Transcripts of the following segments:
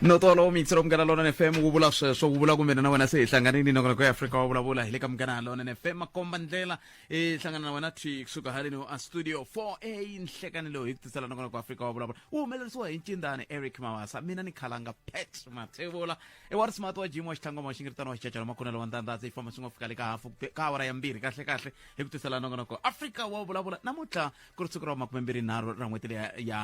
no tolo mixi ro munghana lona nfm wu vula sweswo wu vula kumbe na wena se hi hlanganini noko noko ya afrika wa vulavula hi le ka munghana lona nfm makomba ndlela hi hlangana na wena twi kusuka haleni wa studio 4 a nhlekani lowu hi ku tisela noko noko afrika wa vulavula wu humelerisiwa hi ncindani eric mawasa mina ni khalanga pat mathevula i wa rismart wa jim wa xitlhangoma wa xingiritano wa xicacalo makunelo wa ndandhatsi yi famba swi ngo fika le ka hafu ka awara ya mbirhi kahle kahle hi ku tisela nongonoko afrika wa vulavula namuntlha ku ri siku ra makumembirhi nharhu ra n'hweti leya ya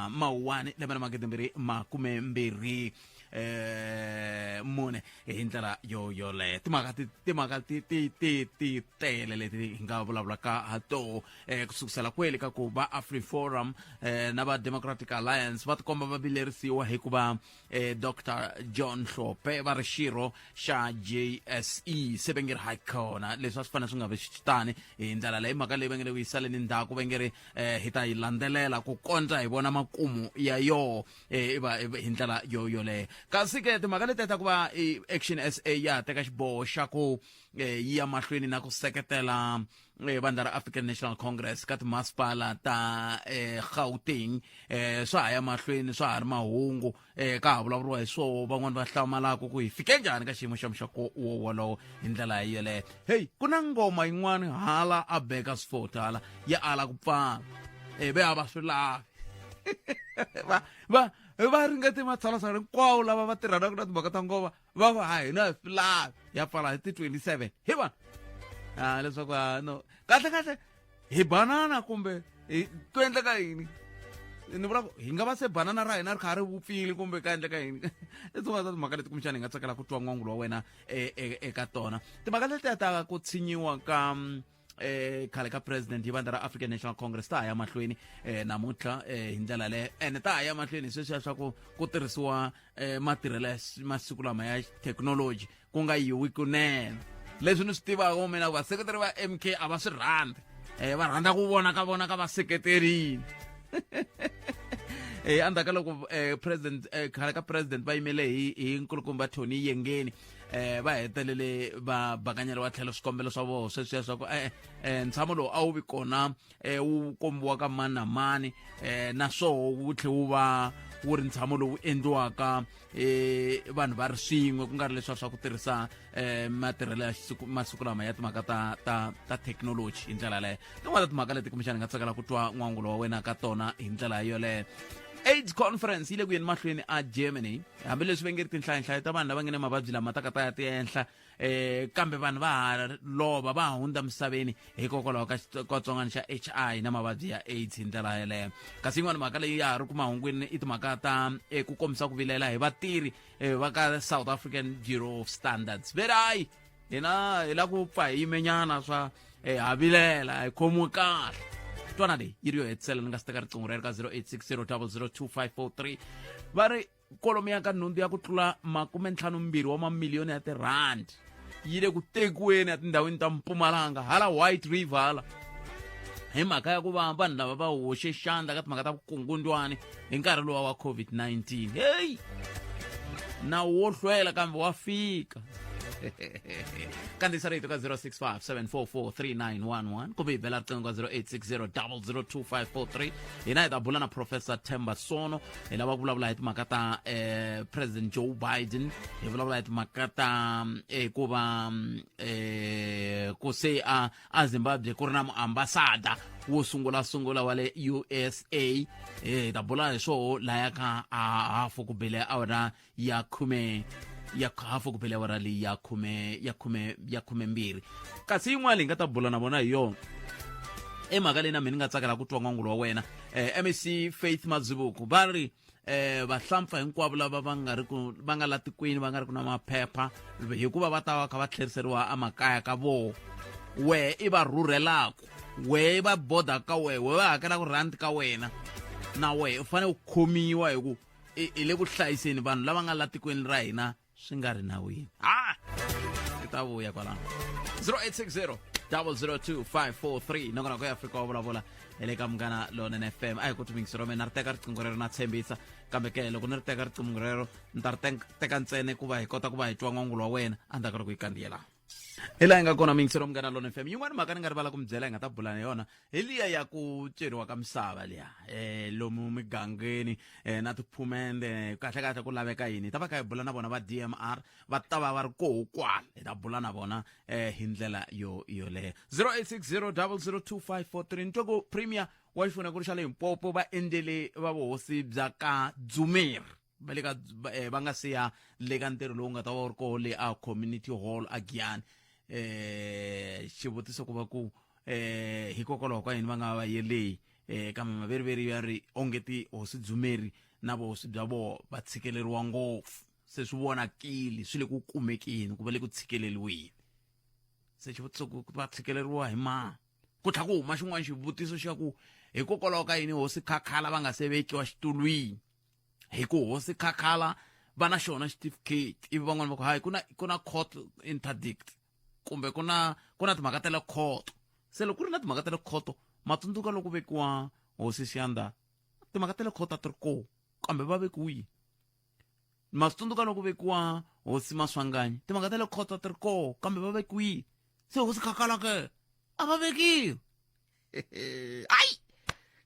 mawuwani lembe na magidembirhi makumembirhi eh mune hi ndlela yo yoleyo timhaka ti timhaka ti ti ti ti tele leti hi nga vulavulaka ha toho eh kusukusela kweli ka ku va afriforum eh na va democratic alliance va tikomba va vilerisiwa hikuva eh, dr john hlope va ri xirho xa jse se va nge ri hayi khona leswi a swi fanele swi nga vi swi tani hi ndlela leyi mhaka leyi va nge le ku yi saleni ndzhaku va nge ri eh, hi ta yi landzelela ku kondza hi vona makumu ya yoho eh, i va- i va- hi ndlela yo yoleyo kasi ke timhaka leti ta ku va i action sa ya ha teka xiboho xa ku eh, yi ya mahlweni na ku seketela eh, vandla ra african national congress ka timasipala ta eh, gauteng eh, swa ha ya mahlweni swa ha ri mahungu eh, ka ha vulavuriwa hi swoho van'wani va hlamalaka ku hi fike njhani ka xiyimo xa muxako wo wolowo hi ndlela hi yeleyo heyi ku na ngoma yin'wani hala a beka sifoti hala ya ala ku pfala eh, ve a va swi lavi va va va ringete matshalatshala hinkwawo lava va tirhanaka na timhaka ta ngoma va ku ha hina hi swi lavi ya pfala hi ti 27 hi vona a leswaku a no kahle kahle hi banana kumbe hi ku endleka yini ni vula ku hi nga va se banana ra hina ri kha ri vupfile kumbe ka endleka yini i tin'wana ta timhaka leti kumbexana hi nga tsakela ku twa n'wangulo wa wena e, e, eka tona timhaka letiya ta ku tshinyiwa ka mm, eh khale ka president hi vandla ra african national congress ta ha ya mahlweni eh namuntlha eh hi ndlela leyo ene ta ha ya mahlweni hi sweswiya swa ku ku tirhisiwa eh matirhelo ya s- masiku lama ya technology ku nga yiwi kunene leswi ni swi tivaka mina ku vaseketeri va mk a va swi rhandzi eh va rhandza ku vona ka vona ka vaseketerini eh andzhaku ka loko eh president eh khale ka president va yimele hi hi nkulukumba Tony Yengeni eh va hetelele va bakanyeriwa tlhelo swikombelo swa vona sweswiya swa ku e-e um ntshamo lowu a wu vi kona um wu kombiwa ka mani na mani um naswoho wu tlhe wu va wu ri ntshamo lowu endliwaka um vanhu va ri swin'we ku nga ri leswiya swa ku tirhisa um matirhelo ya masiku lama ya timhaka ta ta ta thekinoloji hi ndlela yaleyo tin'wana ta timhaka leti kumbexana nga tsakela ku twa n'wangulo wa wena ka tona hi ndlela yoleyo aids conference yi le ku yeni mahlweni a germany hambileswi va nge ri tinhlayanhlayo ta vanhu lava nge ne mavabyi lama ta ka ta ya ti ehenhla um kambe vanhu va ha lova va ha hundza misaveni hikokwalaho ka xitsongwatsongwana xa h i na mavabyi ya aids hi ndlela yeleyo kasi yin'wana mhaka leyi ya ha ri ku mahungwini i timhaka ta eh, ku kombisa ku vilela hi vatirhi eh, va ka south african bureau of standards verayi hina hi la ku pfa hi yimenyana swa eh, ha vilela hi khomiwe kahle twana leyi yi ri yo hetisela ni nga si teka riqingho ra ri ka 0860002543 va ri kolomo ya ka nhundzu ya ku tlula makume ntlhanu mbirhi wa mamiliyoni ya tirhandi yi le ku tekiweni etindhawini ta mpumalanga hala white river hala hi mhaka ya ku va vanhu lava va hoxe xandla ka timhaka ta vukungundwani hi nkarhi lowa wa covid-19 heyi nawu wo hlwela kambe wa fika kandziyisa rito ka 065 744 kumbe hi bela riqingho ka 0860 002543 hina hi ta bula na professor temba sono hi lava ku vulavula hi timhaka ta eh, president joe biden hi vulavula hi timhaka ta eh, ku va mm, eh, ku se a ezimbabwe ku ri na muambasada wo sungulasungula wa le usa hi eh, ta bula hi swoho laya ka hafu ku bile awara ya khume ya hafu ku bile awara leyi ya khume ya khume ya khumembirhi kasi yin'wana leyi nga ta bula na vona hi yona i mhaka leyi na mina ni nga tsakela ku twa n'wangulo wa wena um eh, mec faith madzibuku va ri eh vahlampfa hinkwavo lava va nga ri ku va nga la tikweni va nga ri ku na maphepha hikuva va ta va kha va tlheriseriwa emakaya ka vona wehe i va rhurhelaka wehe va boda ka wehe wehe va hakelaka rand ka wena na wehe u fanele u khomiwa hi ku hi le ku hlayiseni vanhu lava nga la tikweni ra hina swi nga ri nawini ha i ta vuya kwalano 0860 002543 nongonoko ya afrika wa vulavula hi le ka munghana lonene fm a hi ku tumingisi rome na ri teka riqingho rero na tshembisa kambe ke loko ni ri teka riqingho rero ni ta ri teka ntsene ku va hi kota ku va hi twa n'wangulo wa wena a ndzhaku ri ku yi kandziyelana hi laha yi nga kona mingiselo munghana lona fm yin'wana mhaka ni nga rivala ku mi byela hi nga ta bula na yona hi liya ya ku ceriwa ka misava liya um lomu migangeni um na tiphumende kahle kahle ku laveka yini hi ta va kha hi bula na vona va dmr va ta va va ri koho kwala hi ta bula na vona um hi ndlela yo yoleyo 0860 002543 ni twe ku premier wa xifuna ku ri xa le himpopo va endlele va vuhosi bya ka dzumeri va le ka eh, va nga siya le ka ntirho lowu nga ta va wu ri koho le a community hall a giyani um eh, xivutiso ku va ku um eh, hikokwalaho ka yini va nga va yeleyi um kambe maveriveri ya ri ongeti hosi dzumeri na vuhosi bya vona va tshikeleriwa ngopfu se swi vonakile swi le ku kumekeni ku va le ku tshikeleriweni se xivutiso ku va tshikeleriwa hi mani ku tlha ku huma xin'wana xivutiso xa ku hikokwalaho ka yini hosi khakhala va nga se vekiwa xitulwini hi ku hosi khakhala va na xona xitifiketi ivi van'wana va ku hayi ku na ku na court interdict kumbe ku na ku na timhaka ta le khoto se loko ku ri na timhaka ta le khoto matsundzuka loko vekiwa hosi xiyanda timhaka ta le khoto a ti ri koo kambe va vekiwile matsundzuka loko vekiwa hosi maswanganyi timhaka ta le khoto a ti ri koo kambe va vekiwile se hosi khakalake a va vekiwi ai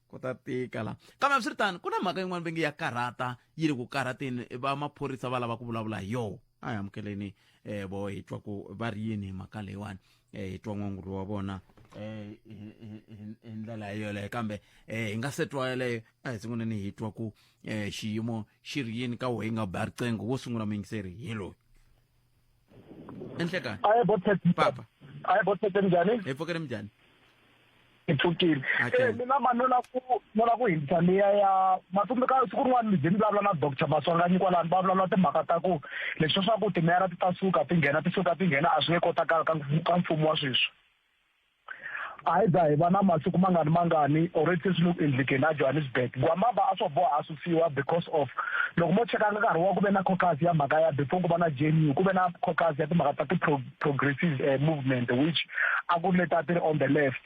ku ta tika la kambe a swi ri tano ku na mhaka yin'wana va nge ya karhata yi ri ku karhateni va maphorisa va lava ku vulavula hi yoho a hi amukeleni um vo hi twa ku va ri yini hi mhaka leyiwani um hi twa n'wanguri wa vona um hi ndlela yeleyo kambe um hi nga se twa yeleyo a hi sunguleni hi twa ku um xiyimo xi ri yini ka wo hi nga ba riqingho wo sungula muyingiseri hi loyi enhlekani aye bothethe papa aye bothethe njani efokele mjani ipfukile Okay. Eh, mina ma nola ku nola ku hindza liya ya matsundzu ka siku rin'wana ndzi ni vulavula na doctor maswanganyi kwalani va vulavula timhaka ta ku leswi swa ku timeyara ti ta suka ti nghena ti suka ti nghena a swi nge kotakala ka ka mfumo wa sweswi Either hi va na masiku mangani mangani already se swi le ku endlekeni a Johannesburg Gwamaba a swo boha a susiwa because of loko mo cheka nkarhi wa ku ve na caucus ya mhaka ya before ku va na JNU ku ve na caucus ya timhaka ta ti-progressive uh, movement which a ku ri leta ti ri on the left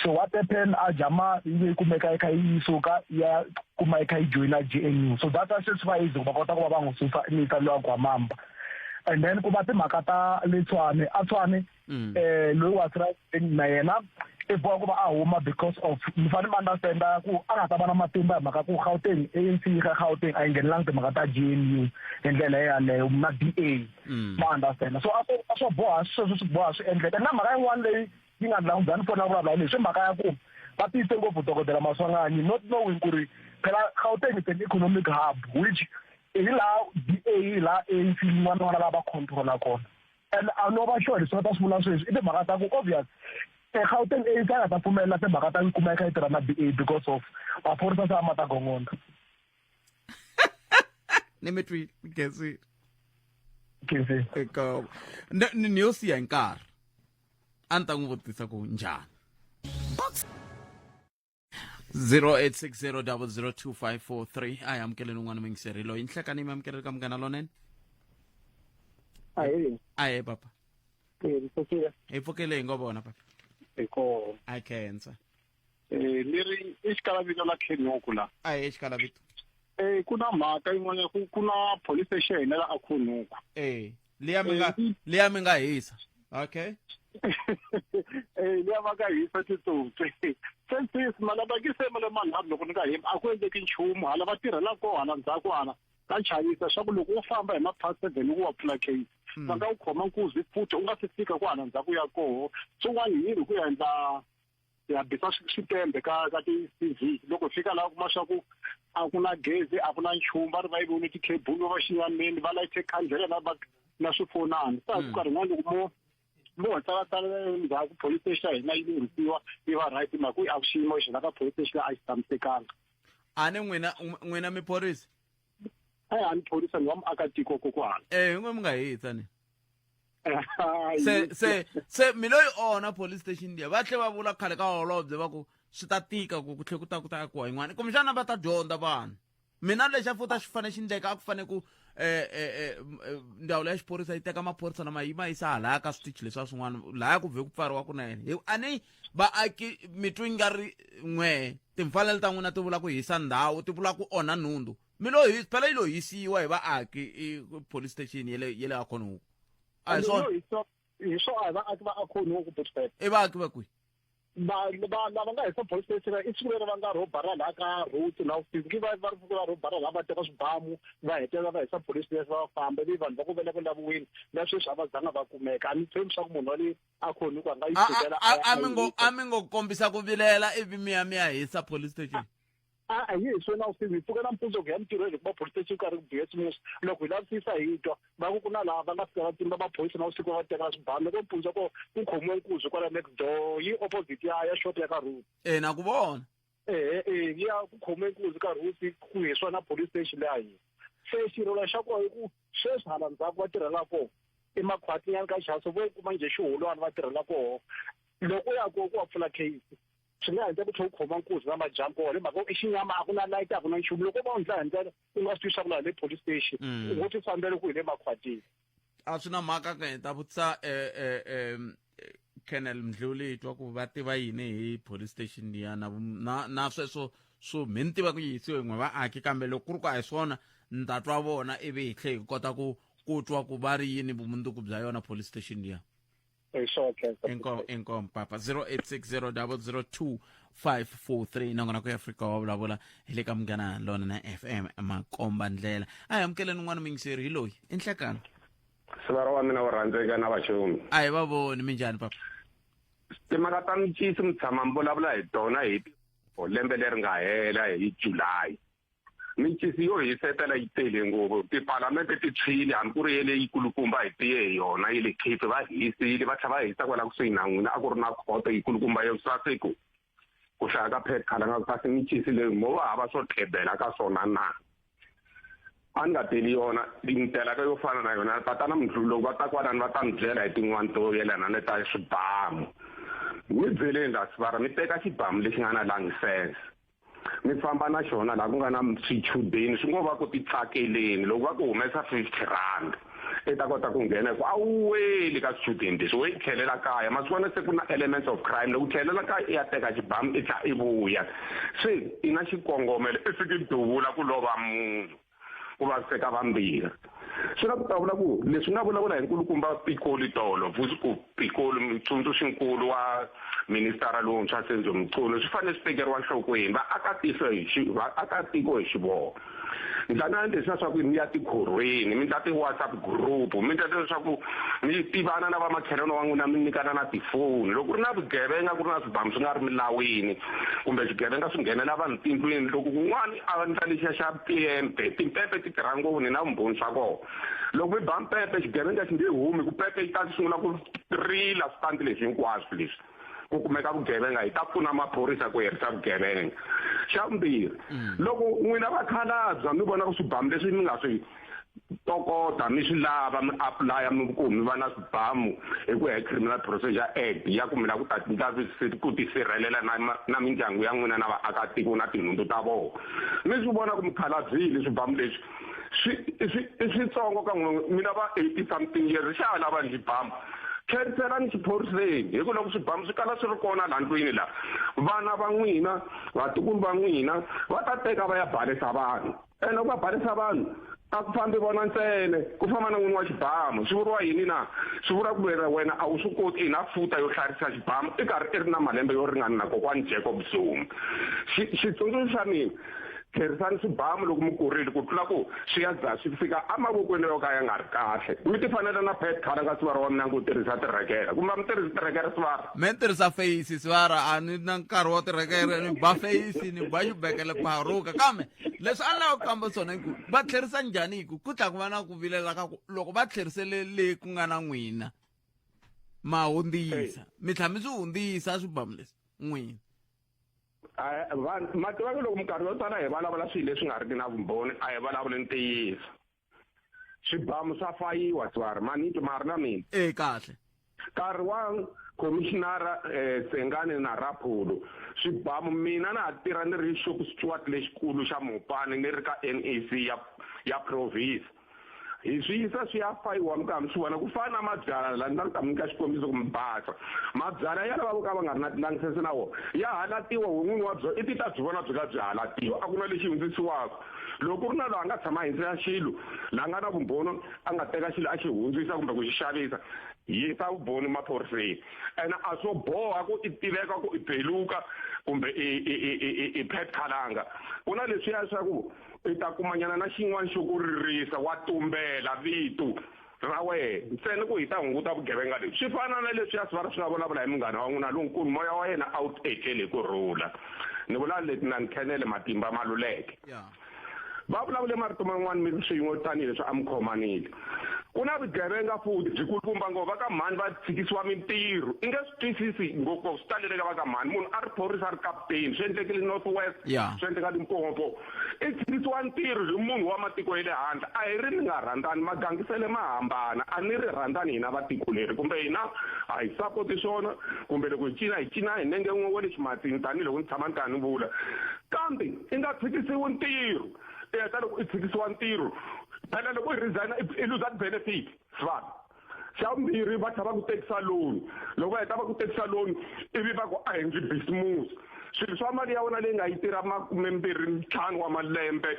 so what happened a jama yi ve yi kumeka yi kha yi suka ya kuma yi kha yi joyina JNU so that's why se swi va easy ku va kota ku va va n'wi susa ni ta lowa Gwamamba and then ku va timhaka ta le Tshwane a Tshwane Mm. eh loyi wa sirayini na yena i boha ku va a huma because of mi fanele mi understanda ku a nga ta va na matimba hi mhaka ku gauteng anc yi ga gauteng a yi nghenelangi timhaka ta g n u hi ndlela yaleyo na d a mm. ma understanda so a swo boha sweswo swi boha swi endleka na mhaka yin'wana leyi yi nga ndlangu bya ni pfuna vulavula hi leswi mhaka ya ku va tiyise ngopfu dokodela maswanganyi not knowing ku ri phela gauteng is an economic hub which hi laha d a hi laha anc yin'wana n'wana lava controla kona and a no va sure leswi va ta swi vula sweswi i timhaka ta ku obvious egauteng a ka nga ta pfumelela timhaka ta ku kuma eka yi tirha na b a because of maphorisa se a ma ta gongonda ni mi twile gezi gezi eka ni ni yo siya hi nkarhi a ni ta n'wi vutisa ku njhani 0860002543 a hi amukeleni un'wana mingiseri loyi nhlekani mi amukeleli ka munghana lonene ahee ahee papa eh, mpfukile hi pfukele hi ngo vona papa hi koho a khensa um eh, leri i xikalavito la khenuku la ahee xikalavito um ku na mhaka yin'wana ku na police station la a khunuku um leyi ya mi nga Eh, leyi ya mi nga hisa okay Eh, leyi va ka hisa titsotsi sensis malabakise ma le manharhu loko ni nga hembi a ku endleki nchumu hala va tirhela koho hala ndzhaku hala ta chayisa swa ku loko u famba hi ma-past seven u wa pfula case va nga wu khoma nkuzi futhi u nga si fika ku hala ndzhaku ya koho swin'wana yini ku endla hi ya bisa switembe ka ka ti-tv loko hi fika laha kuma swa ku a ku na gezi a ku na nchumu va ri va yi vone ti-cable va va xinyameni va layite khandlela na na swifonani sa ku karhi n'wana loko mo mo ho tsalatsala ndzhaku police station ya hina yi lunghisiwa yi va right hi mhaka ku a ku xiyimo xi la ka police station a xi tshamisekanga a ni n'wina n'wina miphorisa a ya ha ni thorisa ni wa muakatiko kokwana eh in'we mi nga hi tsani se se se mi loyi ona police station liya va tlhe va vula khale ka holobye va ku swi ta tika ku ku tlhe ku ta ku ta ku yin'wana kumbexana va ta dyondza vanhu mina lexi a futa xi fanele xi ndleka a ku fanele ku um eh, eh, eh, ndzawulo ya xiphorisa yi teka maphorisa lama yi ma yisa halaya ka switichi leswiwa swin'wana laya ku vhe ku pfariwa ku na yena a ni vaaki mitwi nga ri n'we timfanelo ta n'wina ti vula ku hisa ndhawu ti vula ku onha nhundzu mi lo hi phela yi lo hisiwa hi vaaki police station ya le ya le akhonuku a hi swona hi swo a hi vaaki va akhonuku botbet i vaaki va kwihi lava nga hisa police station i siku leri va nga rho bara laha ka road laha ku fiki va va ri siku va rho bara laha va teka swibamu va hetelela va hisa police station va famba ivi vanhu va ku vele ku laviwile na sweswi a va zanga va kumeka a ni tshembi swa ku munhu wa le akhoni kwa nga yi tshikela a a mi ngo a mi ngo kombisa ku vilela ivi mi ya mi ya hisa police station a a hi hi swona u sivi pfuka na mpundzu ku ya mintirhweni hikuva police station karhi ku biya simusa loko hi lavisisa hi twa va ku ku na laha va nga fika va tsimba maphorisa na vusiku va teka swibani loko mpundzu ko ku khomiwe nkuzi kwala next door yi opposite ya ya shop ya ka road ina ku vona ehe e ya ku khome nkunzi nkarhi wu si ku hi swona police station leyi a hina se xirilo xa kona i ku sweswi hala ndzhaku va tirhela kona emakhwatinyana ka xaso vo kuma njhe xiholwana va tirhela kona loko u ya kona ku wa pfula case swi nga endla ku tlhe u khoma nkuzi na madyambu kona hi mhaka i xinyama a ku na light a ku na nchumu loko va wu ndla hi ndlela u nga swi tivi swa ku laha le police station mm. u ngo ti fambele ku hi le makhwatini a swi na mhaka ka hi ta vutisa um eh, eh, eh, colonel mdluli hi twa ku va tiva yini hi police station liya na na, na sweswo swo mi ni tiva ku yisiwe n'we vaaki kambe loko ku ri ku a hi swona ni ta twa vona ivi hi tlhe hi kota ku ku twa ku va ri yini vumundzuku bya yona police station liya hi swo khensa Inkom- inkomo papa 0860002543 nongona ku ya afrika wa vulavula hi le ka munghana lona na fm makomba ndlela a hi amukeleni un'wana mingiseri hi loyi i nhlekano sivara wa mina wo rhandzeka na vaxumi a hi va voni minjhani papa timhaka ta mincisi mi tshama mi vulavula hi tona hi ti- o lembe leri nga hela hi july mincisi yo hisetela yi tele ngopfu tipalamente ti tshwile hambi ku ri ye leyi kulukumba hi tiye hi yona yi le cape va hisile va tlhela va hisa kwala kusuhi na n'wina a ku ri na khoto yi kulukumba yo saseko ku hlaya ka phethkhala nga kasi mincisi leyi mo va hava swo tlhebela ka swona na a ni nga teli yona ndlela ka yo fana na yona tatana mdlulo va ta kwanani va ta mi byela hi tin'wani to yelana ni ta swibamu mi byeleni la sivara mi teka xibamu lexi nga na langisense mi famba na xona laha ku nga na swichudeni swi ngo va ku titsakeleni loko va ku humesa fifty rand i ta kota ku nghena hi ku a wu weli ka swichudeni leswi wo yi tlhelela kaya masiku ana se ku na elements of crime loko u tlhelela kaya i ya teka xibamu i tlha i vuya se i na xikongomelo i fiki duvula ku lova munhu ku vaviseka vambirhi swi nga ta vula ku leswi nga vulavula hi nkulukumba pikoli tolo vusiku pikoli mutsundzuxinkulu wa ministara lowuntshwa senzo mchunu swi fanele swi tekeriwa nhlokweni vaakatiko hi vaakatiko hi xivoho mi ta na leswi na swaku mi ya tikhorhweni mi ta ti-whatsapp group mi ta leswaku mi tivana na vamakhelwani wa n'wina mi nyikana na tifoni loko ku ri na vugevenga ku ri na swibamu swi nga ri milawini kumbe swigevenga swi nghenela vanhu tindlwini loko kun'wana Xivandla lexiya xa pempe, timpepe ti tirha ngopfu ni na vumbhoni swa kona. Loko mi ba mpepe xigevenga xi nge humi ku pepe yi ta sungula ku rila switandi leswi hinkwaswo leswi ku kumeka vugevenga hi ta pfuna maphorisa ku herisa vugevenga. Xa vumbirhi loko n'wina vakhalabya mi vona ku swibamu leswi mi nga swi tokota mi swi lava mi apulaya mi ku mi va na swibamu hi ku ya hi criminal procedure act ya ku mi lava ku ta ndla ku tisirhelela na na mindyangu ya n'wina na vaakatiko na tinhundzu ta vona mi swi vona ku mikhalabyini swibamu leswi swi i switsongo ka n'wina mina va eighty something years xa ha lava ndzi bamu khethelani xiphoriseni hi ku loko swibamu swi kala swi ri kona laha ndlwini laha vana va n'wina vatukulu va n'wina va ta teka va ya balesa vanhu ene u va barisa vanhu a ku fambi vona ntsene ku famba na n'wini wa xibamu swi vuriwa yini na swi vuriwa ku vera wena a wu swi koti ina futa yo hlarisa xibamu i karhi i ri na malembe yo ringana na kokwani jacob zuma xitsundzuxo xa mina tlherisani swibamu loko mi kurile ku tlula ku swi ya za swi fika emavokweni yo ka ya nga ri kahle mi ti fanele na pet khala ka swivara wa mina ku tirhisa tirhekela kumbe mi tirhisa tirhekela swivara mi tirhisa feyisi swivara a ni na nkarhi wa tirhekela ni ba feyisi ni ba xibekele paruka kambe leswi a ni lava ku kamba swona i ku va tlherisa njhani hi ku ku tlha ku va na ku vilela ka ku loko va tlherisele le ku nga na n'wina ma hundzisa mi tlha mi swi hundzisa swibamu leswi n'wina vanhu ma tiva ku loko minkarhi yo tala hi vulavula swilo leswi nga riki na vumbhoni a hi vulavuli ntiyiso swibamu swa fayiwa tswari manito ma ri na mina e kahle nkarhi wa commissionara um eh, sengane na raphulo swibamu mina na ha tirha ni ri xop stewart lexikulu xa mopani ni ri ka n e c ya ya province hi swi yisa swi ya fayiwa mi ka mi swi vona ku fana na mabyala la ni ta ni ta mi nyika xikombiso ku mi basa mabyala ya lava vo ka va nga ri na tilangsese na wona ya halatiwa wo n'wini wa byona i ti ta byi vona byi ka byi halatiwa a ku na lexi hundzisiwaka loko ku ri na loyi a nga tshama henhla ya xilo la nga na vumbhoni a nga teka xilo a xi hundzisa kumbe ku xi xavisa yisa vumbhoni maphoriseni ene a swo boha ku i tiveka ku i beluka kumbe i pet khalanga ku na leswiya swa ku i ta kumanyana na xin'wana xo ku ririsa wa tumbela vito ra wehe ntsena ku hi ta hunguta vugevenga lebyi swi fana na leswi a swi va ri swi nga vulavula hi munghana wa n'wina lonkulu moya wa yena a wu etlele hi ku rhula ni vula leti na ni khenele matimba ma luleke va vulavule marito man'wana mi ri swin'we tanihileswi a mi khomanile ku na vugevenga futhi byi kulukumba ngopfu va ka mhani va tshikisiwa mintirho i nge swi twisisi ngopfu swi taleleka va ka mhani munhu a ri phorisa a ri kaputeni swi endlekile north west swi endleka limpopo i tshikisiwa ntirho hi munhu wa matiko ya le handle a hi ri ni nga rhandzani magangisele ma hambana a ni ri rhandzani hina va tiko leri kumbe hina a hi sapoti swona kumbe loko hi cina hi cina hi nenge n'we wa le ximatsini tanihiloko ni tshama ni kha ni vula kambe i nga tshikisiwi ntirho i heta loko i tshikisiwa ntirho phela loko i resign i luza ti-benefit svan xa vumbirhi va tlha va ku tekisa loan loko va heta va ku tekisa loan ivi va ku a hi ndzi bisimusi swilo swa mali ya wena leyi nga yi tirha makume mbirhi ntlhanu wa malembe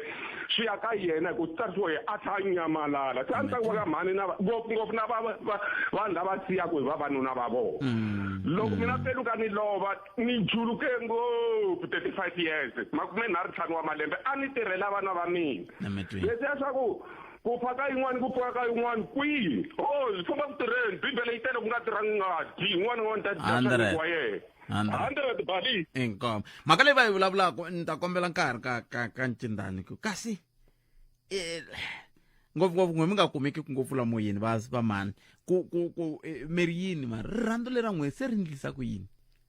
swi ya ka yena hi ku tsarisiwa hi a tlha a nyamalala se a ni tsaku va ka mhani na ngopfungopfu na vanhu lava siyaku hi vavanuna va vona mm. loko mina mm. peluka ni lova ni juluke ngopfu thirty five years makume nharhu ntlhanu wa malembe a ni tirhela vana va mina leswiya swa ku ku fa ka yin'wana ku pfuka ka yin'wana kwihi o swi famba ku tirheni bibele yi tele ku nga tirhangi ngati yin'wana yin'wana ta dyaxaniku wa yena hundred bali inkomo mhaka leyi va yi vulavulaka ni ta kombela nkarhi ka ka ka ncindani ku kasi eh, ngopfungopfu n'we mi nga kumeki ku ngopfu lamoyeni va va mani ku ku ku eh, mi ri yini ma rirhandzu lera n'we se ri ndlisa ku yini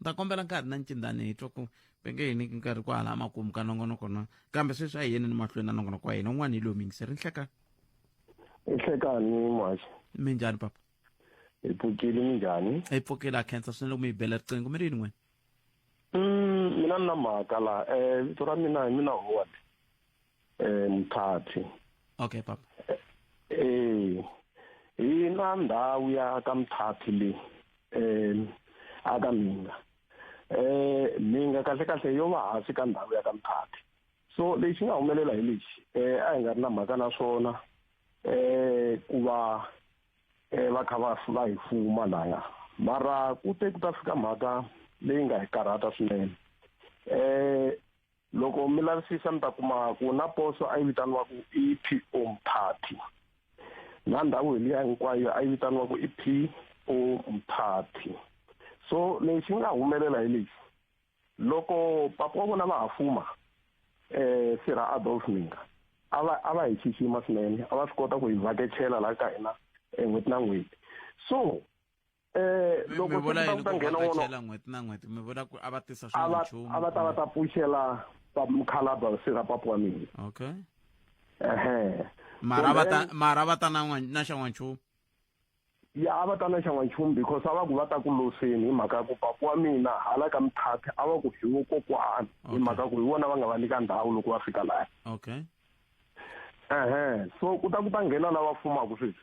ni ta kombela nkarhi na ncindani hi twa ku penge hi niki nkarhi ku hala makumu ka nongonoko na kambe sweswi a hi yeni ni mahlweni na nongonoko wa hina un'wana hi lowu mingiseri nhlekani nhlekani mwaxi mi njhani papa hi pfukile mi njhani hi pfukile a khensa swinene loko mi hi bela riqingho mi ri yini n'wina mm, mina ni na mhaka laha um vito ra mina hi mina howard eh mthathi okay papa eh ina ndawu ya ka mthathi le eh aka minga eh minga kahle kahle yo va hansi ka ndawu ya ka mthathi so lexi nga humelela hi lexi eh a hi nga ri na mhaka na swona eh ku va eh va kha va va hi fuma laya mara ku te ku ta fika mhaka leyi nga hi karhata swinene eh loko mi lavisisa mi ta kuma ku na poso a yi vitaniwaku i po mphathi na ndhawu hi liya hinkwayo a yi vitaniwaku i po mphathi so lexi nga humelela hi lexi loko papa wa vona va ha fuma um sirha adolf minga a va a va hi xixima swinene a va swi kota ku hi vhakechela laha ka hina um n'hweti na n'hweti so eh loko mi vula yini ku vhakachela n'hweti na n'hweti mi vula ku a va tisa swin'we nchumu a va ta va ta pfuxela mukhalabya sira papu wa mina okay ehe mara va ta mara va ta na na xa n'wanchumu ya a va ta na xa n'wanchumu because a va ku va ta ku loseni hi mhaka ya ku papu wa mina hala ka mithathe a va ku hi wo kokwana hi mhaka ku hi vona va nga va nyika ndhawu loko va fika laya okay ehe so ku ta ku ta nghena lava fumaka sweswi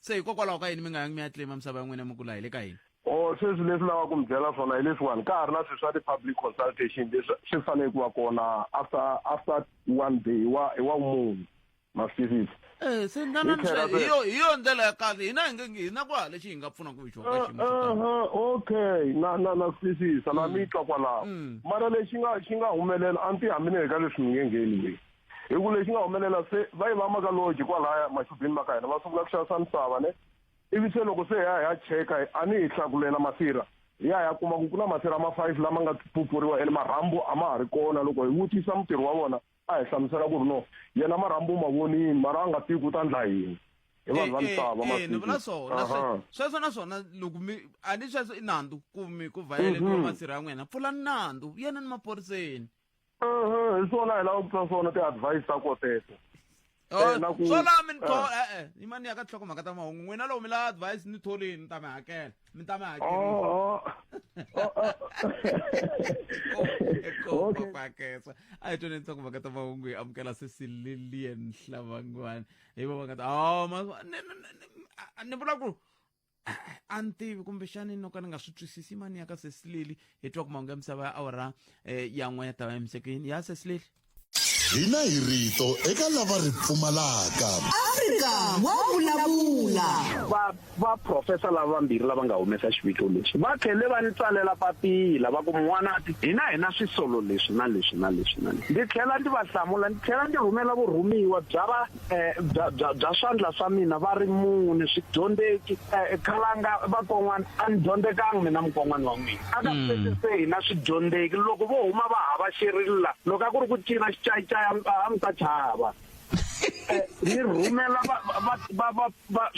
se hikokwalaho ka yini mi nga yangi mi ya tlima misava ya n'wina mi kula hi le ka yini o oh, sweswi leswi lava ku mi byela swona hi leswiwani ka ha ri na swilo swa ti-public consultation leswi swi fanele ku va kona after after one day hi wa hi wa munhu ma swi twisisa eh, se ndananihiyo hi yo ndlela ya kahle hina hi nge hi na ku ha lexi hi nga pfunaka ku xona ka xiyimo eh, eh, okay na na na swi twisisa na mm. mi twa kwalaho mm. mara lexi nga xi nga humelela a ni ti hambini eka leswi mi nge ngheni leyi hi ku lexi nga humelela se va yi va maka loji kwalaya maxubini ma ka hina va sungula ku xavisa misava ne ivi se loko se hi ya hi ya cheka a ni hi hlakulela masirha hi ya hi ya kuma ku ku na masirha ma five lama nga pupuriwa ene marhambu a ma ha ri kona loko hi vutisa mutirhi wa vona a hi hlamusela ku ri no yena marhambu ma vonini mara a nga tivi ku ta ndla yini hi vanhu va misava ni vula swona sweswo na swona loko mi a ni sweswo i nandzu ku mi ku vhayeletiwa mhm. masirha ya n'wina pfulani nandzu yena ni maphoriseni hi swona hi lava ku twa swona ti-advice ta ko teto Eh, na ku- swo laha mi ni tho- Ah. e-e yi mani ya ka tlhoko mhaka ta mahungu n'wina loko mi lava advice ni tholini ni ta mi hakela mi ta mi hakelisa Okay. pakesa a hi tweni ntsako mhaka ta mahungu hi amukela sesi lilian hlavangwani hi va va nga ta "Oh, ma- ni- ni- ni- ni- a- ni vula ku a- a ni tivi kumbexani no ka ni nga swi twisisi i mani ya ka sesileli hi twa ku mahungu ya misava ya awara eh, ya n'we ya ta va emisekeni ya sesileli hina hi rito eka lava ri pfumalaka afrika wa vulavula va va profesa lava vambirhi lava nga humesa xiviko lexi va tlhele va ni tsalela papila va ku n'wanati hina hina swisolo leswi na leswi na leswi na leswi ndzi tlhela ndzi va hlamula ndzi tlhela ndzi rhumela vurhumiwa bya va eh, bya bya bya swandla swa mina va ri mune swidyondzeki eh, khalanga vakon'wana a ni dyondzekanga mina mukon'wana wa n'wina a ka mm. sweswi se hina swidyondzeki loko vo huma va hava xirila loko a ku ri ku cina xicayicaya a mi ta chava eh, ni rhumela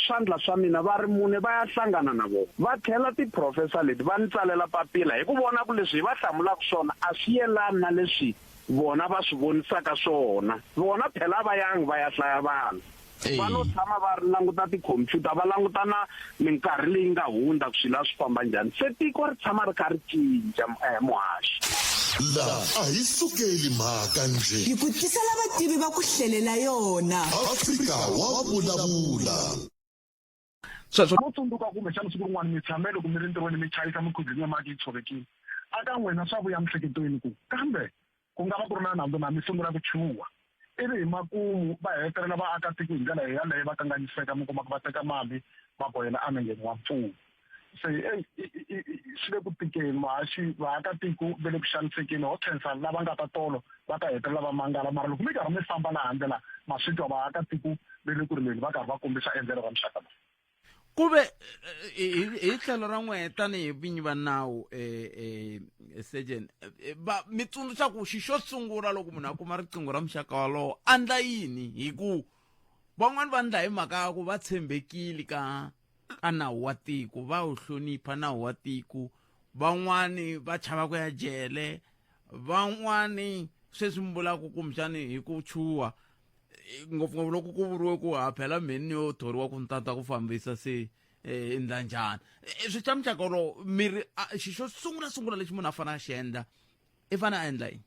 swandla swa mina va ri mune va ya hlangana na vona va tlhela tiprofesa leti va ni tsalela papila hi ku vona ku leswi hi va hlamulaka swona a swi yelani na leswi vona va swi vonisaka swona. Vona phela a va yangi va ya hlaya vanhu. Va lo tshama va ri languta tikhompyuta, va languta na minkarhi leyi nga hundza ku swilo a swi famba njhani. Se tiko ri tshama ri kha ri cinca, muhaxi. Laha a hi sukeli mhaka njhe. Hi ku tisela vativi va ku hlelela yona. Afrika wa vulavula. Sweswo. Mo tsundzuka kumbe xana siku rin'wana mi tshame loko mi ri ntirhweni mi chayisa mikhuzini ya mati yi tshovekile. A ka n'wina swa vuya mhleketweni ku kambe ku nga va ku ri na nandzu na mi sungula ku chuha. Ivi hi makumu va hetelela vaakatiko hi ndlela yaleyo va kanganyiseka mi kuma ku va teka mali va bohela enengeni wa mfumo. Se ey swi le ku tikeni vahaxi vaakatiko va le ku xanisekeni ho khensa lava nga ta tolo. va ta hetelela va mangala mara loko mi karhi mi famba laha handle laha ma swi twa vaakatiko ve le ku ri leni va karhi va kombisa endlelo ra muxaka lowu ku ve hi tlhelo ra n'wehe tanihi vinyi va nawu um sejen va mi tsundzuxa ku xi xo sungula loko munhu a kuma riqingho ra muxaka walowo a ndla yini hi ku van'wani va ndla hi mhaka ya ku va tshembekile ka ka nawu wa tiko va wu hlonipha nawu wa tiko van'wani va chava ku ya jele van'wani sweswi mi vulaka kumbexani hi ku chuha ngopfungopfu loko ku vuriwe ku ha phela mheni yo thoriwa ku ntata ku fambisa se um ndlanjana swi xa muxaka wolowo miri xi xo sungula sungula lexi munhu a fanele a xi endla i fane a endla yini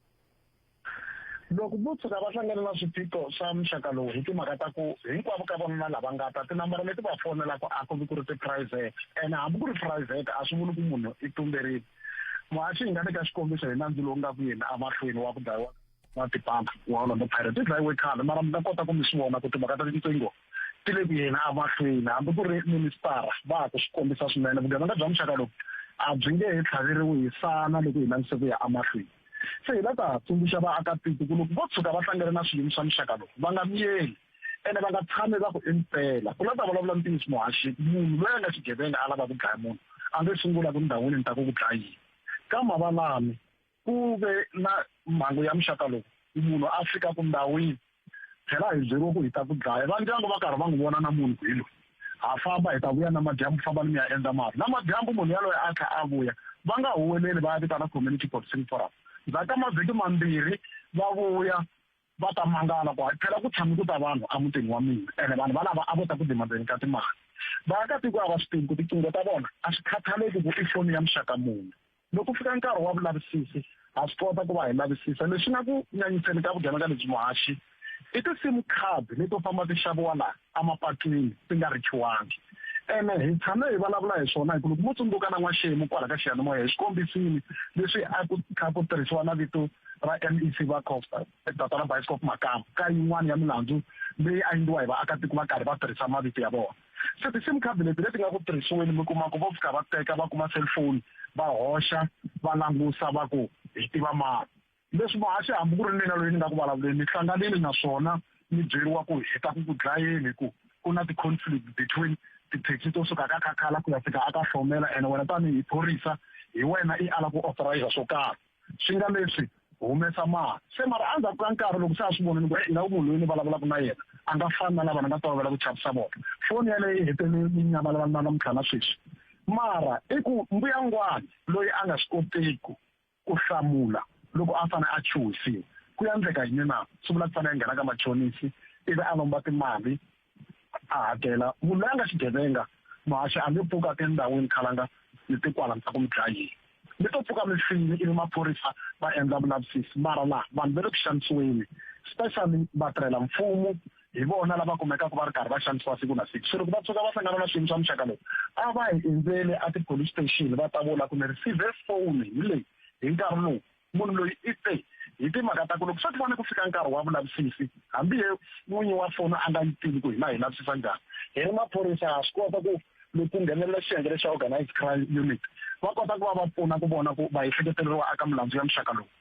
loko vo tshuka va hlangana na swiphiqo swa muxaka lowu hi timhaka ta ku hinkwavo ka vanuna lava nga ta tinambara leti va fonelaka a ku vi ku ri tiphurayivhete ene hambi ku ri phurayivhete a swi vuli ku munhu i tumberile muhaxi hi nga le ka xikombiso hi nandzu lowu nga ku yini emahlweni wa ku dlayiwa na tipampa wa orlando pirate i dlayiwe khale mara mi nga kota ku mi swi vona ku timhaka ta tinqingo ti le ku yeni emahlweni hambi ku ri ministara va ha ku swi kombisa swinene vugevenga bya muxaka lowu a byi nge he tlhaveriwi hi sana loko hi langise ku ya emahlweni se hi la ta tsundzuxa vaakatiko ku loko vo tshuka va hlangane na swiyimo swa muxaka lowu va nga miyeli ene va nga tshami va ku i mpela ku la ta vulavula ntiyiso muhaxi munhu loyi a nga xigevenga a lava ku dlaya munhu a nge sungula ku ndhawini ni ta ku ku dlayini ka mavalami ku ve na mhangu ya muxaka lowu ku munhu a fika ku ndhawini phela hi byeriwe ku hi ta ku dlaya va ndyangu va karhi va n'wi vona na munhu ku hi loyi ha famba hi ta vuya namadyambu famba ni mi ya endla mali namadyambu munhu yaloye a tlha a vuya va nga huweleli va ya vitana community policing forum ndzhaku ka mavhiki mambirhi va vuya Va ta mangala ku hakela ku tshami ku ta vanhu emutini wa mina, ene vanhu valava a vo ta ku dima ndzeni ka timali. Vaakatiko a va swi tivi ku tiqingho ta vona a swi khathaleki ku i foni ya muxaka muni. Loko ku fika nkarhi wa vulavisisi, ha swi kota ku va hi lavisisa. Leswi nga ku nyanyiseni ka vugevenga lebyi muhaxi i ti-sim card leto famba ti xaviwa laha. emapatwini ti nga richiwangi ene hi tshame hi vulavula hi swona hikuva mo tsundzuka na n'waxemu kwala ka xiyanimoya hi swi kombisile leswi a ku kha ku tirhisiwa na vito ra mec va costa data ra bioscop makamu ka yin'wana ya milandzu leyi a endliwa hi vaakatiko va karhi va tirhisa mavito ya vona se ti-sim card leti leti nga ku tirhisiweni mi kuma ku vo fika va teka va kuma cellphone va hoxa va langusa va ku hi tiva mani Leswi muhaxi, hambi ku ri mina loyi ni nga ku vulavuleni, ni hlanganile na swona ni byeriwa ku hi ta ku ku dlayeni hi ku ku na ti-conflict between tithekisi to suka ka Khakhala ku ya fika aka Hlomela and wena tanihi phorisa hi wena i ala ku authorize swo karhi swi nga leswi humesa mali se mara endzhaku ka nkarhi loko se a swi vona ni ku e nga ku munhu loyi ni vulavulaka na yena a nga fani na lava ni nga tolovela ku chavisa vona foni yaleyo yi hetelele yi nyamalala na namuntlha na sweswi mara i ku mbuyangwana loyi a nga swi koteku Ku hlamula, Loko a fane a chuhisiwa, ku ya ndleka yini na? Swi vula ku fane a nghena ka machonisi ivi a lomba timali a hakela. Munhu loyi a nga xigevenga, muhaxi a nge pfuki a te endhawini khale a nga ni tikwala mi ta ku mi dlayiwa. Mi to pfuka mi file ivi maphorisa va endla vulavisisi. Mara la vanhu va le ku xanisiweni, specially vatirhela mfumo hi vona lava kumekaka va ri karhi va xanisiwa siku na siku so loko va tshuka va hlangana na swiyimo swa muxaka lowu a va hi endzele a ti-police station va ta vula ku ni receive phone hi leyi hi nkarhi lowu munhu loyi i te hi timhaka ta ku loko swa ti vona ku fika nkarhi wa vulavisisi hambi ye n'winyi wa foni a nga yi tivi ku hina hi lavisisa njhani hi ri maphorisa ha swi kota ku loko ku nghenelela xiyenge lexa organized crime unit va kota ku va va pfuna ku vona ku va ehleketeleriwa aka milandzu ya muxaka lowu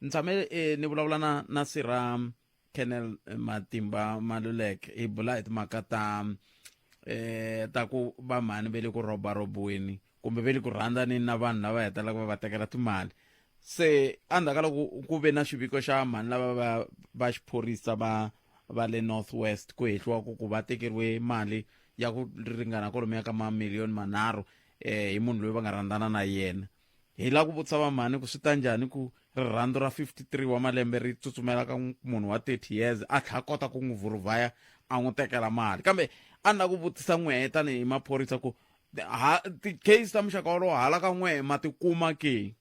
ni tshame eh, ni vulavula na na sira kennel eh, matimba malulek hi bula hi timhaka ta eh ta ku va mhani ve le ku roba robiwini kumbe ve le ku rhandzanini na vanhu lava hetelaka va va tekela timali se endzhaku ka loko ku ve na xiviko xa mhani lava va va xiphorisa va va le north west ku hehliwa ku ku va tekeriwe mali ya ku ringana kolomo ya ka mamiliyoni manharhu um hi munhu loyi va nga rhandzana na yena Hi la ku vutisa va mhani ku swi ta njhani ku rirhandzu ra 53 wa malembe ri tsutsumela ka munhu wa 30 years a tlha kota ku n'wi vhuruvhaya a n'wi tekela mali kambe a ni la ku vutisa n'wehe tanihi maphorisa ku ha ti-case ta muxaka wolowo hala ka n'wehe ma ti kuma ke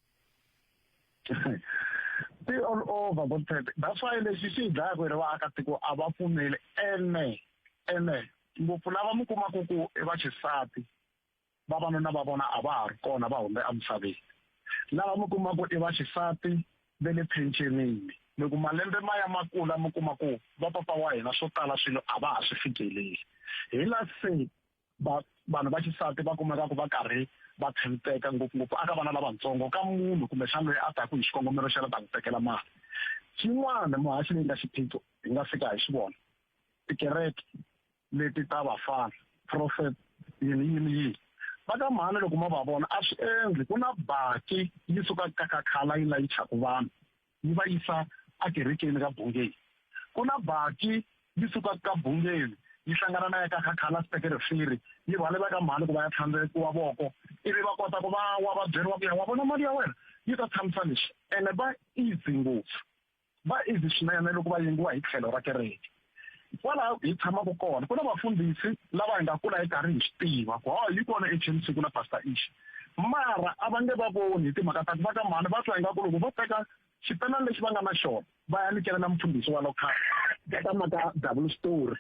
ti all over bo tete that's why lexi xi hi dlaya ku ri vaakatiko a va pfumeli ene ene ngopfu lava mi kumaku ku i vaxisati vavanuna va vona a va ha ri kona va humbe emisaveni lava mi kuma ku i va xisati ve le phenxenini mi ku malembe ma ya ma kula mi kuma ku va papa wa hina swo tala swilo a va ha swi fikeleli hi la se va vanhu va xisati va kumeka ku va karhi va tshembeka ngopfungopfu aka vana lavatsongo ka munhu kumbe xana loyi a taku hi xikongomelo xa la ta ku tekela mali xin'wana muhaxi leyi nga xiphiqo hi nga fika hi xi vona tikereke leti ta vafana prophet yini yini yini va ka mhani loko ma va vona a swi endli ku na baki yi suka kakakhala yi layichaka vanhu yi va yisa akerekeni ka bungeni ku na baki yi suka ka bungeni yi hlangana na ya ka kakhala sitekerefiri yi rhwale va ka mhani ku va ya tlhandlekiwa voko ivi va kota ku va wa va byeriwa ku ya wa vona mali ya wena yi ta tshamisa lexi ene va easy ngopfu va easy swinene loko va yengiwa hi tlhelo ra kereke kwalaho hi tshamaka kona ku na vafundhisi lava hi nga kula hi karhi hi swi tiva ku hawa yi kona echen siku na pastor ishi mara a va nge va voni hi timhaka ta ku va ka mhani va twa ingaku loko vo teka xipelani lexi va nga na xona va ya nikelela mufundhisi wa lokhale ka maka double story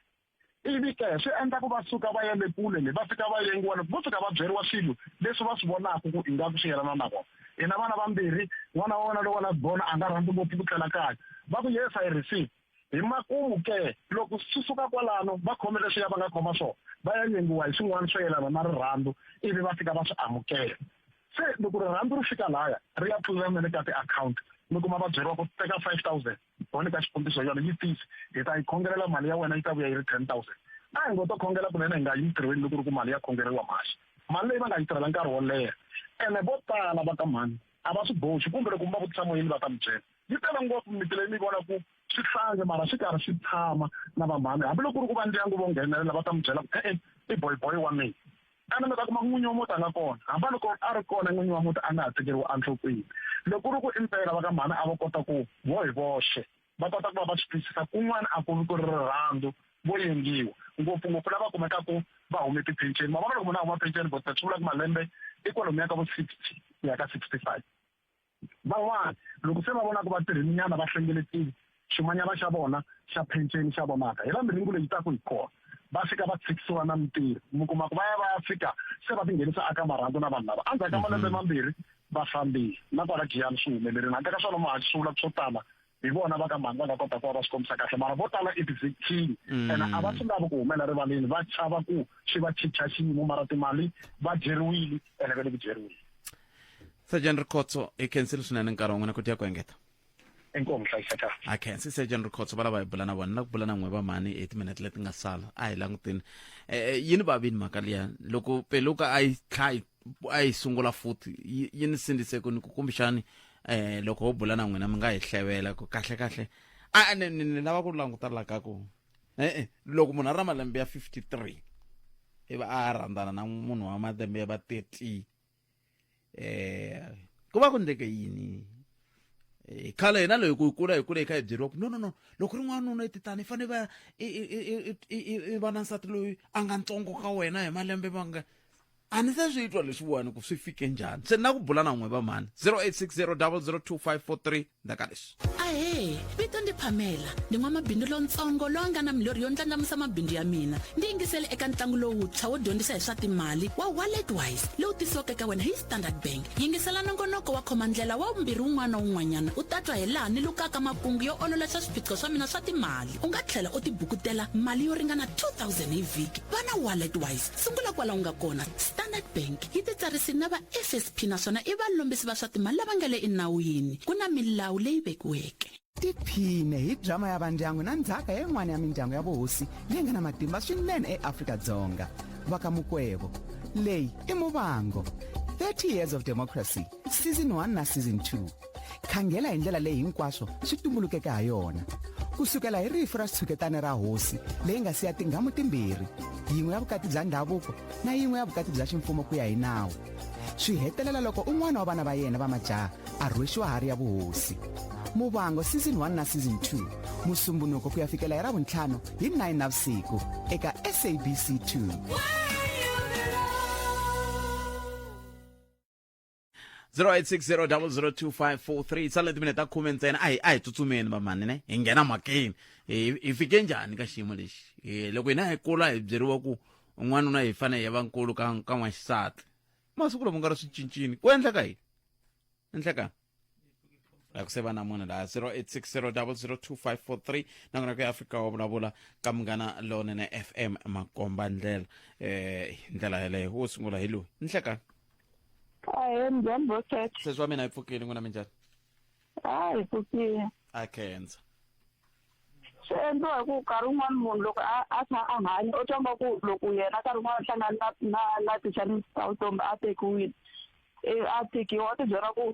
ivi ke swi endla ku va suka va ya le kule le va fika va yengiwa loko vo fika va byeriwa swilo leswi va swi vonaka ku ingaku swi yelana na vona hina vana vambirhi n'wana wa wena lowa la bona a nga rhandzi ngopfu ku tlela kaya va ku yes i receive hi makumu ke loko swi suka kwalano va khome leswiya va nga khoma swona va ya nyengiwa hi swin'wana swo yelana na rirhandzu ivi va fika va swi amukela se loko rirhandzu ri fika laya ri ya pfulelana le ka tiakhawunti mi kuma va byeriwa ku teka five thousand ho nyika xikombiso yona yi tisi hi ta yi khongelela mali ya wena yi ta vuya yi ri ten thousand a hi ngo to khongela kunene hi nga yi ntirhweni loko ri ku mali ya khongeleriwa mhasi mali leyi va nga yi tirhela nkarhi wo leha ene vo tala va ka mhani a va swi boxi kumbe loko mi va vutisa moyeni va ta mi byela yi tele ngopfu miti leyi mi vona ku swi hlange mara swi karhi swi tshama na vamhani hambiloko ku ri ku va ndyangu vo nghenelela va ta mi byela ku e-e i boyboy wa mina Xana mi ta kuma ku n'winyi wa muti a nga kona? Hamba loko a ri kona, n'winyi wa muti a nga ha tekeriwi enhlokweni. Loko ku ri ku i mpela, va ka mhani a vo kota ku, vo hi voxe, va kota ku va va swi twisisa kun'wana a ku vi ku ri rirhandzu, vo yengiwa, ngopfu-ngopfu lava kumekaka va hume tiphenceni. Ma vona, loko munhu a huma phenceni, Botsotsi swi vula ku malembe i kwalomuya ka vo sixty ku ya ka sixty five. Van'wana loko se va vona ku va tirhininyana va hlengeletile ximanyana xa vona xa phenceni xa vonaka hi la miringu leyi taku hi kona va fika va tshikisiwa na mintirho mi kuma ku va ya va ya fika se va tinghenisa aka marhangu na vanhu lava endzhaku ka malembe mambirhi va fambile na kwala giyani swi humelerile handle ka swona muhaxi swi vula swo tala hi vona va ka mhani va nga kota ku va va swi kombisa kahle mara vo tala i ti-victim mm. ene a va swi lavi ku humela rivaleni va chava ku swi va chicha xiyimo mara timali va dyeriwile ene va le ku dyeriwile sergeant rikhotso hi khensile swinene nkarhi wan'wina ku tiya ku engeta inkomu hlayiseka a khensi sergeant rikhotso va lava hi bula na vona na ku bula na n'we va mhani hi timinete leti nga sala a hi langutini um yini vavini mhaka liya loko peluka a yi tlha yi a yi sungula futhi yi yi ni sindzise ku ni ku kumbexani um loko ho bula na n'wina mi nga hi hlevela ku kahle kahle a ni ni ni lava ku languta la ka ku e-e loko munhu a ri na malembe ya fifty three i va a rhandzana na munhu wa malembe ya va thirty um ku va ku ndleke yini Eh, khale hina loyi ku kula hi kule hi kha hi byeriwa ku no no no loko ri n'wanuna i titani i fanele va i- i- i- i- i- i- i va na nsati loyi a nga ntsongo ka wena hi malembe manga a ni se swi twa leswiwani ku swi fike njhani se ni na ku bula na n'we va mhani 0860002543 ndaka leswi ahee vito ndi phamela ndi n'wamabindzu lontsongo loyi a nga na milorhi yo ndlandlamusa mabindzu ya mina ndi yingisele eka ntlangu lowuntshwa wo dyondzisa hi swa timali wa wallet wise lowu tisiwaka eka wena hi standard bank yingisela nongonoko wa khomandlela wa vumbirhi wun'wana na wun'wanyana u tatwa hi laha ni lukaka makungu yo ololoxa swiphiqo swa mina swa timali u nga tlhela u tibukutela mali yo ringana 2000 hi vhiki va na wallet wise Sungula kwala u nga kona, Standard Bank yi titsarisile na va FSP naswona i valombisi va swa timali lava nga le enawini. Ku na milawu leyi vekiweke. Tiphine hi drama ya vandyangu na ndzhaka ya yin'wana ya mindyangu ya vuhosi leyi nga na matimba swinene eAfrika-Dzonga, va ka Mukwebo. Leyi i Muvango, 30 Years of Democracy, Season 1 na Season 2. khangela hi ndlela leyi hinkwaswo swi tumbulukeke ha yona ku sukela hi rifu ra xitshuketana ra hosi leyi nga siya tinghamu timbirhi yin'we ya vukati bya ndhavuko na yin'we ya vukati bya ximfumo ku ya hi nawu swi hetelela loko un'wana wa vana va yena va majaha a rhwexiwa hari ya vuhosi muvango season 1 na season 2 musumbunuko ku ya fikela hi ravuntlhanu hi 9 na vusiku eka sabc 2 0860002543 sale na timinete ta khume ntsena a hi a hi tsutsumeni vamhani ne hi nghena mhakeni hi hi fike njhani ka xiyimo lexi hi loko hina hi kula hi byeriwa ku n'wanuna hi fanele hi va nkulu ka ka n'waxisati masiku lama nga ri swi cincini ku endleka yini endleka la ku se va na munhu laha 0860002543 na kona ku ya afrika wa vulavula ka munghana lonene fm makomba ndlela eh hi ndlela yeleyo wo sungula hi loyi nhlekani ahe njhani boset sesi wa mina hi pfukile n'wina minjhani a hi pfukile a khensa swi endliwa hi ku nkarhi wun'wana munhu loko a a kha a hanya u twanga ku loko yena nkarhi wun'wana u hlangana na na na ti-challenges ta vutomi a tekiwile a tekiwa u tibyela ku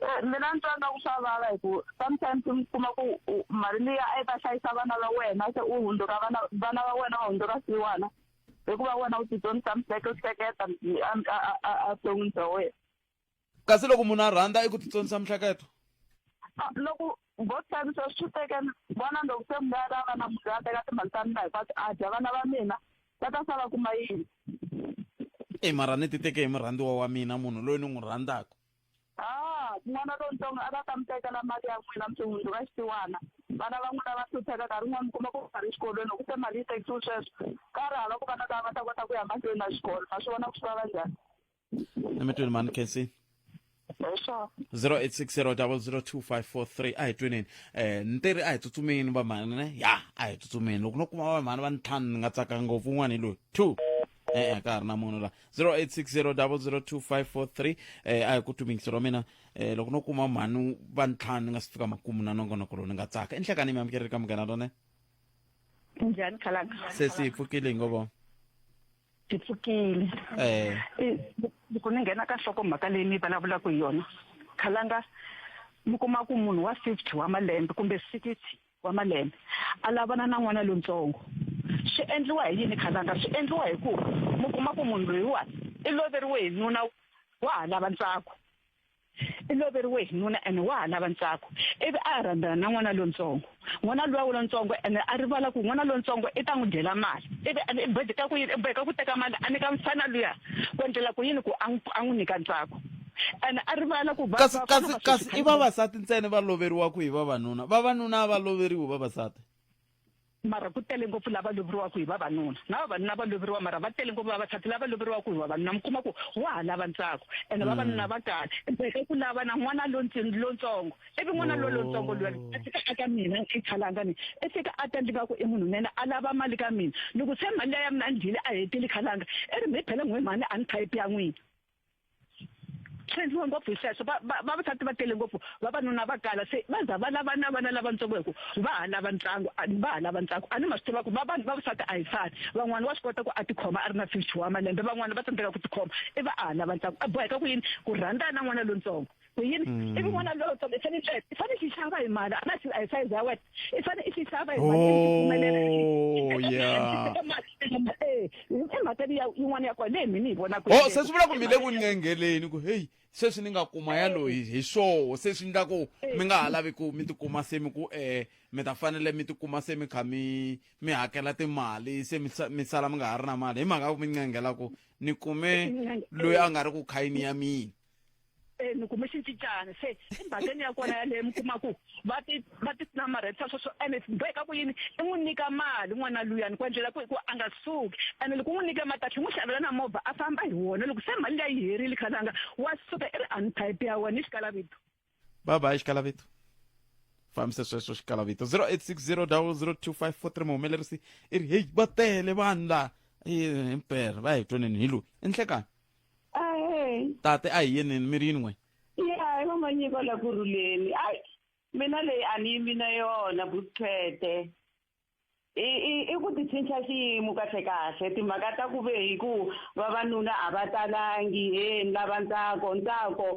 Eh, mina ni twa nga ku swa vava hi ku sometimes mi kuma ku u- mali liya a yi ta hlayisa vana va wena se u hundzuka vana vana va wena va hundzuka siwana hikuva wena u tidyondzisa mihleke u hleketa mi- a- a- a- a- a vuton'wini bya wena kasi loko munhu a rhandza i ku titsonisa mihleketo Ah, loko ngo xavisa swi tekela vona loko se mi nga ta va na munhu loyi a teka timali ta mina hikwati a dya vana va mina va ta sala kuma yini e mara ni ti teke hi murhandziwa wa mina munhu loyi ni n'wi rhandzaka a n'wana lontsongo a va ta mi tekela mali ya n'wina mi swihundzu ka xitiwana vana va n'wina va hlupheka nkarhi un'wana mi kuma ku va ri xikolweni loko se mali yi tekisiwe sweswo ka ri hava ku vana lava va ta kota ku ya mahlweni na xikolo ma swi vona ku swi va va njhani emitweni mani khensi Sure. 0860002543 a hi tweneni eh ni te ri a hi tsutsumeni vamhani ne ya a hi tsutsumeni loko no kuma vamhani va ni ntlhanu ni nga tsaka ngopfu un'wana hi loyi two e-e ka ha ri na munhu la 0860002543 eh a hi ku tumingisi ra mina eh loko no kuma mhani va ntlhanu ni nga si fika makumu na nongonoko lowu ni nga tsaka enhlekani mi amukeleli ka munghana rone Njhani khalanga? se si yi pfukile hi ngovo ti pfukile eh. loko ni nghena ka nhloko mhaka leyi ni vulavulaka hi yona khalanga mi kuma ku munhu wa fifty wa malembe kumbe sixty wa malembe a lavana na n'wana lontsongo swi endliwa hi yini khalanga swi endliwa hi ku mi kuma ku munhu loyiwani i loveriwe hi nuna wa ha lava ntsako i loveriwe hi nuna ene wa ha lava ntsako ivi a rhandzana na n'wana lontsongo n'wana luwa lontsongo ene a rivala ku n'wana lontsongo i ta n'wi dyela mali ivi ene i boheka ku yini i boheka ku teka mali a nyika mfana luya ku endlela ku yini ku a n'wi a n'wi nyika ntsako ene a rivala ku kasi kasi kasi i vavasati ntsena va loveriwaka hi vavanuna vavanuna a va loveriwi vavasati mara ku tele ngopfu lava loveriwaka hi vavanuna na vavanuna va loveriwa mara va tele ngopfu vavasati lava loveriwaka hi vavanuna mi kuma ku wa ha lava ntsako ene mm. vavanuna va kahle i ku lava na n'wana lontsongo ivi n'wana lo lontsongo luya oh. a fika a ka mina i khalanga ni i fika a ta ndlika ku i munhu nene a lava mali ka mina loko se mali ya mina a ndyile a hetile khalanga i ri mi phele n'we mhani a ni phayiphi ya n'wina tshwendziwe ngopfu hi sweswo vavasati va tele ngopfu vavanuna va kala se va za va lava na vana lavatsongo hi ku va ha lava ntlangu va ha lava ntlangu a ni ma swi tiva ku vavanhu vavasati a hi fani van'wana wa swi kota ku a tikhoma a ri na fifty wa malembe van'wana va tsandzeka ku tikhoma i va a ha lava ntlangu a boheka ku yini ku rhandza na n'wana lontsongo yini mm. ivi n'wana loyi tsongo i fane tlele i fane xi xava hi mali a na xi a hi size ya wena i fane i xi xava hi mali oh, eh, i mhaka liya yin'wana ya kona leyi mi ni yi vonaka o oh, se swi vula ku mi le ku nyengeleni ku heyi sweswi ni nga kuma ya loyi hi swoho se swi endla ku mi nga ha lavi ku mi tikuma se mi ku um mi ta fanele mi tikuma se mi kha mi mi hakela timali se mi sala mi nga ha ri na mali hi mhaka ku mi nyengela ku ni kume loyi a nga ri ku khayini ya mina e ni kume xincicana se emhakeni ya kona yaleyo mi kuma ku va ti va ti namarhetisa sweswo ene boheka ku yini i n'wi nyika mali n'wana luyani ku endlela ku hikuva a nga suki ene loko u n'wi nyike mali katlhe n'wi xavela na movha a famba hi wona loko se mali leyi herile khalanga wa suka i ri untype ya wena i xikalavito bye bye xikalaveto fambisa sweswo xikalaveto 0860002543 muhumelerisi i ri heyi va tele vanhu laha himpera va hi twaneni hi loyi i nhlekani tate a hi yeneni mi ri yini n'we ya hi vamanyiko la ku rhuleni ayi mina leyi a ni yimi na yona buthete i i i ku ti cinca xiyimo kahle kahle timhaka ta ku ve hi ku vavanuna a va talangi he ni lava ntsako ntsako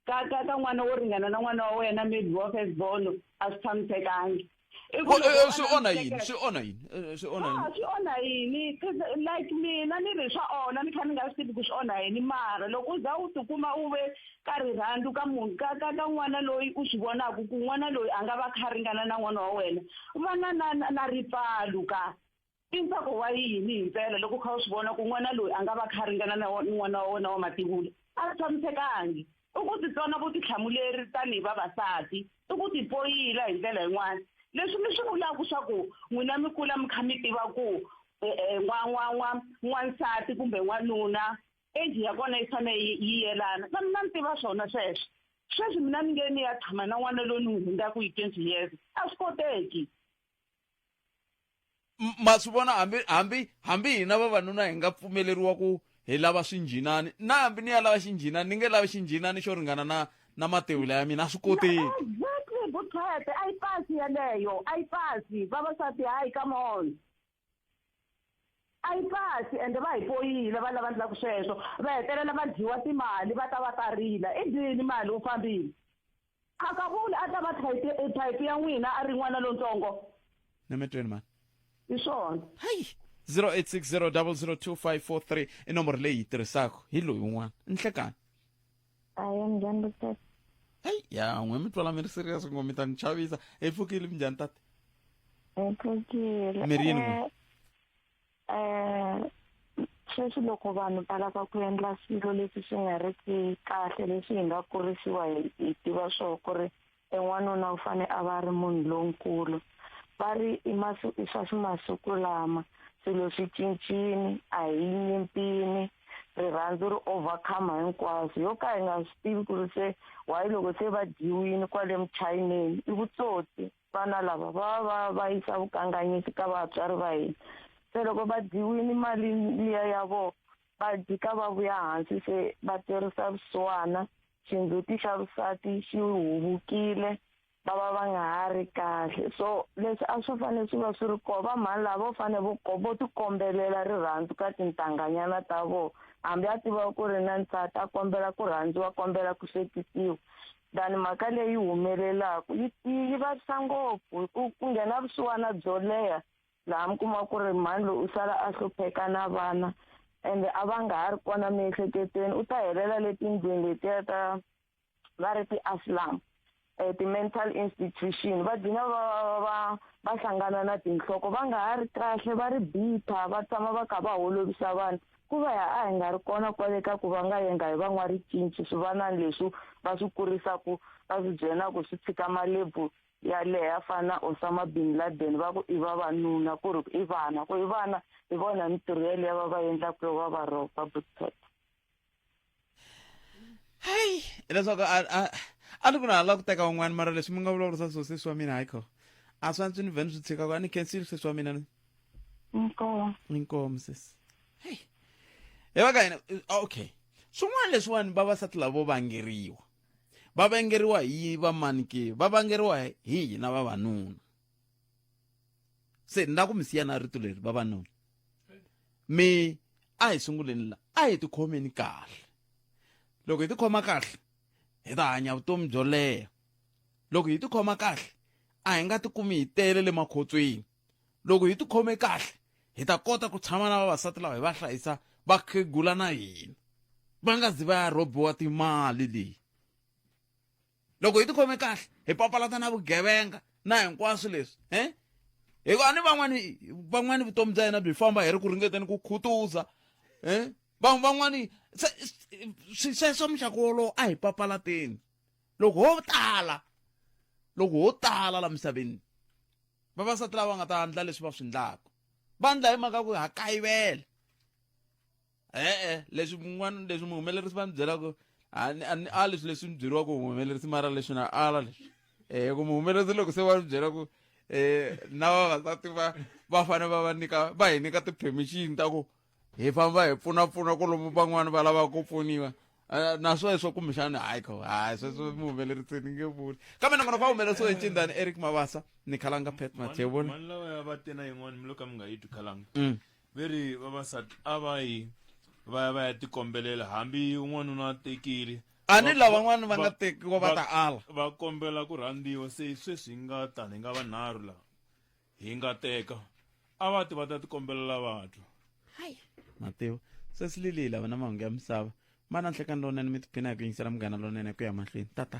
ka ka ka n'wana wo ringana na n'wana wa wena maybe wa first born a swi tshamisekangi i ku loko eh, swi onha yini swi onha yini eh, swi onha yini swi onha yini like mina ni ri swa onha ni kha ni nga swi tivi ku swi onha yini mara loko u za u tikuma u ve ka rirhandzu ka munhu ka ka ka n'wana loyi u swi vonaka ku n'wana loyi a nga va kha ringana na n'wana wa wena u va na na na ripfalu ka i ntsako wa yini hi mpela loko u kha u swi vona ku n'wana loyi a nga va kha ringana na n'wana wa wena wa mativula a swi tshamisekangi i ku titsona vutihlamuleri tanihi vavasati i ku tipoyila hi ndlela yin'wana leswi mi swi vulaka swa ku n'wina mi kula mi kha mi tiva ku n'wansati kumbe n'wanuna age ya kona yi fanele yi yi yelana na mina ni tiva swona sweswo sweswi mina ni nge ni ya tshama na n'wana loyi ni n'wi hundzaku hi twenty years a swi koteki M- ma swi vona hambi hambi hambi hina vavanuna hi nga pfumeleriwa ku hi lava swinjhinani na hambi ni ya lava xinjhinani ni nge lavi xinjhinani xo ringana na na matewula ya mina a swi koteki exactly buthete a yi pasi yeleyo a yi pasi vavasati hayi come on a yi pasi ende va hi poyile va lava ndlaku sweswo va hetelela va dyiwa timali va ta va ta rila i dini mali u fambile khakavuli a ta va type ya n'wina a ri n'wana lontsongo nametweni mani hi swona hayi 0860 002 543 i nomboro leyi yi tirhisaka hi loyi un'wana nhlekani a hi minjhani doctor heyi ya n'we mi twala mi ri serious ngo mi ta ni chavisa hi pfukile minjhani tata hi pfukile Mi ri yini n'we? um sweswi loko vanhu va lava ku endla swilo leswi swi nga ri ki kahle leswi hi nga kurisiwa hi hi tiva swo ku ri e n'wanuna u fane a va ri munhu lonkulu va ri i masu i swa masiku lama swilo swi cincini a hi nyimpini rirhandzu ri overcome hinkwaswo yo ka hi nga swi tivi ku ri se wayi loko se va dyiwini kwale muchayineni i vutsotsi vana lava va va va yisa vukanganyisi ka vatswari va hina se loko va dyiwini mali liya ya vona va dyi ka va vuya hansi se va twerisa vusiwana xindzhuti xa vusati xi huvukile va va va nga ha ri kahle so leswi a swi fanele swi va swi ri kona vamhani lava vo fanele vo vo tikombelela rirhandzu ka tintanganyana ta vona hambi a tiva ku ri na nsati a kombela ku rhandziwa kombela ku hlekisiwa than mhaka leyi humelelaka yi yi vavisa ngopfu ku ku nghena vusiwana byo leha laha mi kuma ku ri mhani loyi u sala a hlupheka na vana ende a va nga ha ri kona miehleketweni u ta helela letindlwini letiya ta va ri ti-aslam um eh, ti-mental institution va dlina va va va hlangana na tinhloko va nga ha ri kahle va ri bitha va tshama va kha va holovisa vanhu ku va ya a hi nga ri kona kwale ka ku va nga yenga hi van'waricinci swivanani leswi va swi kurisaku va swi byelaka swi tshika malebvu ya leha fana na osama bin laden va ku i vavanuna ku ri i vana ku i vana hi vona mintirho yeleyo va va endlaku yo va va rhoba butset hayi hileswaku a ni ku na hala ku teka un'wana mara leswi mi nga vulavurisa swo sesi wa mina hayikho a swi antswi ni vhe ni swi tshikaka a ni khensile sesi wa mina ni inkomu inkomu sesi heyi hi va ka hina okay swin'wana leswiwani vavasati lavo vangeriwa va vengeriwa hi vamani ke va vangeriwa hi hina vavanuna se ni la ku mi siya na rito leri vavanuna mi a hi sunguleni la a hi tikhomeni kahle loko hi tikhoma kahle hi ta hanya vutomi byo leha loko hi tikhoma kahle a hi nga tikumi hi tele le makhotsweni loko hi tikhome kahle hi ta kota ku tshama na vavasati lava hi va hlayisa vakhegula na hina va nga zi va ya rhobiwa timali leyi loko hi tikhome kahle hi papalata na vugevenga na hinkwaswo leswi um hikuva ni van'wani van'wani vutomi bya hina byi famba hi ri ku ringeteni ku khutuza um van'wani sweswo muxaka wolowo a hi papalateni loko ho tala loko ho tala la misaveni vavasati lava nga ta endla leswi va swi endlaka va endla hi mhaka ku ha kayivela e-e leswi mun'wana leswi muhumelerisi va ni byelaka a leswi leswi ni byeriwaka muhumelerisi mara leswi na ala leswi um ku muhumelerisi loko se va ni byela ku um na vavasati va va fanele va va nyika va hi nyika ti-permission ta ku hi famba hi pfunapfuna ku lomu van'wani va lava ku pfuniwa Eh, na sweswo kumbexana hayi kho hayi sweswo mi humelerisi ni nge vuli kambe nakona va humelerisiwe hi ncindani eric mavasa ni khalanga pet mathevoni mani lawa ya va tena yin'wana mi lo ka mi nga yi twi khalanga Mm. ve ri vavasati a va yi va ya va ya tikombelela hambi n'wanuna a tekile a ni lavan'wani va nga tekiwa va ta ala va kombela ku rhandziwa se sweswi hi nga tani hi nga vanharhu laha hi nga teka a va ti va ta tikombelela vatwa hayi mativa sesi liliyi lava na mahungu ya misava ma na nhlekani lonene mi tiphina hi ku yingisela munghana lonene ku ya mahlweni tata